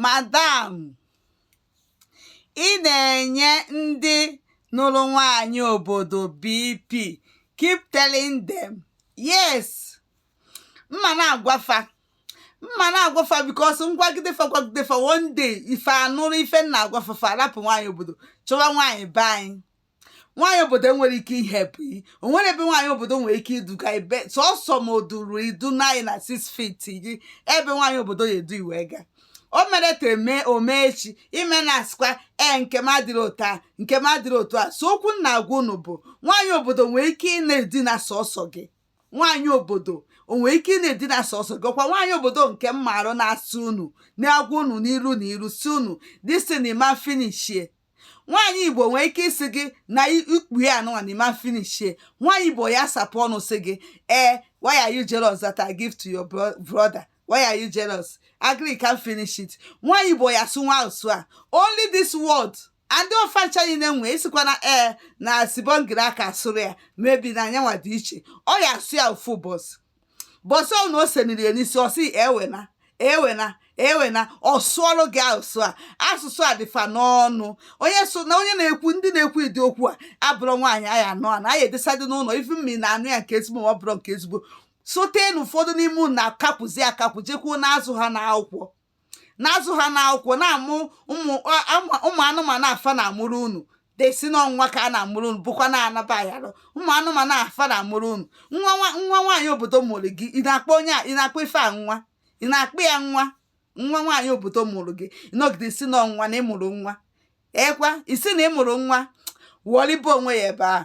madam ị na-enye ndị nụrụ nwanyị obodo bp keep telling them yes m ma na-agwa fa m ma na-agwa fa because m gwagide fa gwagide fa one day fa anụrụ ife m na-agwa fa fa arapụ nwaanyị obodo chọwa nwaanyị be anyị nwaanyị obodo enwero ike ihe bụ iyi o nwero ebe nwaanyị obodo nwere ike iduga ị be sọsọ ma o duru ị duna ị na six feet gị ebe nwaanyị obodo ya-edu ị wee gaa o mero taa eme o mee echi ị mana asịkwa ee nke m adịrọ otu a nke m adịrọ otu a so okwu m na-agwa unu bụ nwaanyị obodo enwero ike ị na-edina sọsọ gị nwaanyị obodo o nwero ike ị na-edina sọsọ gị ọkwa nwaanyị obodo nke m maara na-asị unu na-agwa unu n'iru na iru sị unu this thing ma finishie nwaanyị igbo nwee ike ịsị gị na ikpu ya anụnwa na ị ma finishie nwaanyị igbo ya-asapụ ọnụ sị gị ee why are you jealous that I give to your brother why are you jealous agree can't finish it nwaanyị igbo ya-asụnwu asụsụ a only this word ndị ọfa ncha niile nwee isikwana ee na sibongile akaasụrọ ya maybe na ayanwa dị iche ọ ya-asụ ya ofu ụbọsị bọsị ọnụ o seniri ya n'isi ọ sị ewena ewena ewena ọ sụọlụ gị asụsụ a asụsụ a dị fa n'ọnụ onye so na onye na-ekwu ndị na-ekwu ụdị okwu a abụrọ nwaanyị a ya-anụ anụ a ya-edeside n'ụnọ ife mmiri na anụ ya nke ezigbo ma ọ bụrọ nke ezigbo sote na ụfọdụ n'ime unu na-akapụzi akapụ jekwuo na-azụ ha n'akwụkwọ na-azụ ha n'akwụkwọ na-amụ ụmụ a- ama- ụmụ anụmanụ a fa na-amụrụ unu dee sị na nwa ka a na-amụrụ unu bụkwa na-anaba ayalụ ụmụ anụmanụ a fa na-amụrụ unu nwa nwa nwa nwaanyị obodo mụrụ gị ị na-akpọ onye a ị na-akpọ ife a nwa ị na-akpọ ya nwa nwa nwaanyị obodo mụrụ gị ị nọgide sị na nwa na ị mụrụ nwa ekwa ị sị na ị mụrụ nwa wọrịba onwe ị ebe ahụ